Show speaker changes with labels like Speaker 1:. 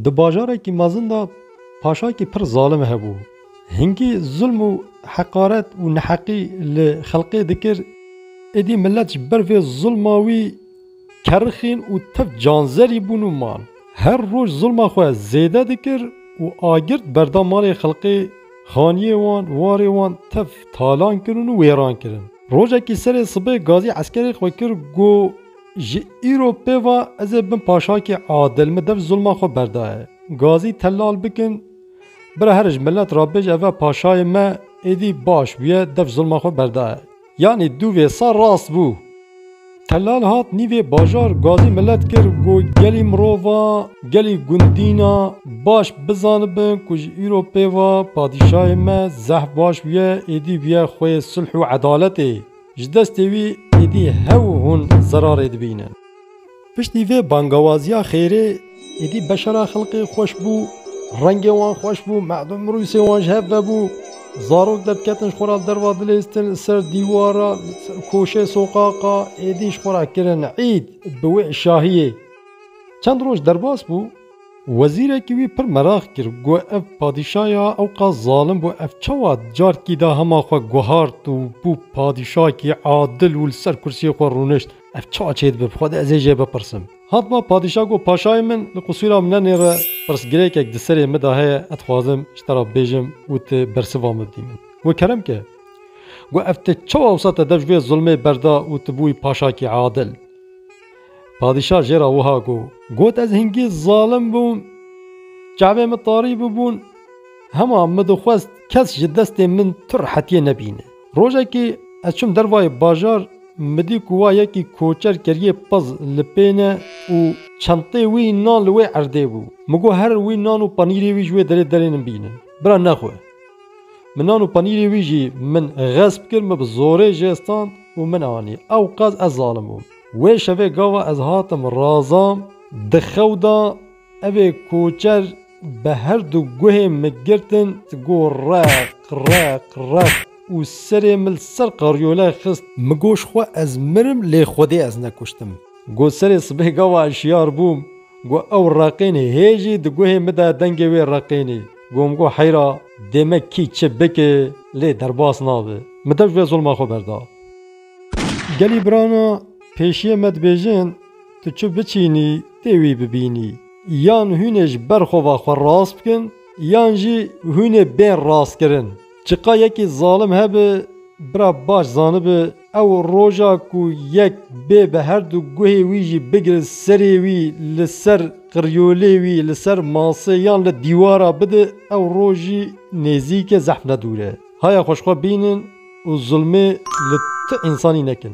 Speaker 1: Di bajarekî mezin de paşayekî pir zalim hebû. Hingî zulm û heqaret û neheqî li xelkê dikir. Êdî milet ji ber vê zulma wî kerixîn û tev canzerî bûn û man. Her roj zulma xwe zêde dikir û agirt berda malê xelkê, xaniyê wan, warê wan tev talan kirin û wêran kirin. Rojekî serê sibê gazî eskerê xwe kir got. Ji îro pêva ez ê bim paşakê adil, min dev zilma xwe berdaye. Gazî telal bikin. Bira here ji milet re bêje eve paşayê me êdî baş bûye, dev zilma xwe berdaye. Yanî dû vê sar rast bû. Telal hat nîvê bajar, gazî milet kir ku gelî mirovan, gelî gundînan baş bizanibin ku ji îro pêva padîşayê me zehf baş bûye, êdî bûye xwê sulh û edaletê. Ji destê wî êdî hev û hûn zerarê dibînin. Piştî vê bangewaziya xêrê êdî beşera xelkê xweş bû, rengê wan xweş bû, merdm rûsê wan ji hev vebû. Zarok derketin ji xwe re li derva dilêstin, li ser dîwara, li ser koşê soqaqa êdî ji xwe re kirin îd bi wê şahiyê. Çend roj derbas bû. Wezîrekî wî pir meraq kir, got, Ev padîşa ya ewqa zalim bû, ev çawa di carkî de hema xwe guhart û bû padîşakî adil û li ser kursiyê xwe rûnişt? Ev çawa çê dibe? Bi xwe de ez ê jê bipirsim. Hatma padîşa got, Paşayê min li qisûra min nenêre, pirsgirêkek di serê min de heye, ez dixwazim ji te re bêjim û tu bersiva min bidî min. Got, Kerem ke. Got, Ev te çawa wisa te dev ji vê zilmê berda û tu bûyî paşakî adil? Padîşah jê re wiha got, Got ez hingî zalim bûm, çavên min tarî bûbûn, hema min dixwest kes ji destên min tu rehetiyê nebîne. Rojekê ez çûm dervayê bajar, min dît ku wa yekî koçer keriyê pez li pê ne û çenteyê wî nan li wê erdê bû. Min got here wî nan û panîrê wî ji wê derê derê min bîne. Bira nexwe. Min nan û panîrê wî jî min xesp kir, min bi zorê jê stand û min anî. Ewqas ez zalim bûm. Wê şevê gava ez hatim Razam di xew da evê koçer bi her du guhê mi girtin got req req req û serê mi li ser qaryole xist mi got ji xwe ez mirim lê xwedê ez nekuştim. Got serê sibê gava ez şiyar bûm got ew reqîn hê jî di guhê mi de dengê wê reqînî got mi got heyra dê me kî çi bike lê derbas nabe. Mi dew ji vê zulma xwe berda. Gelî birana pêşiyê me dibêjin, tu çi biçînî tê wî bibînî. Yan hûnê ji ber xwe ve xwe rast bikin yan jî hûnê bên rastkirin. Çiqa yekî zalim hebe bira baş zanibe ew roja ku yek bê bi herdu guhê wî jî bigire serê wî li ser qiryolê wî li ser masê yan li dîwara bide ew roj jî nêzîke zehf nedûre. Haya xwe ji xwe bînin û zulmê li ti însanî nekin.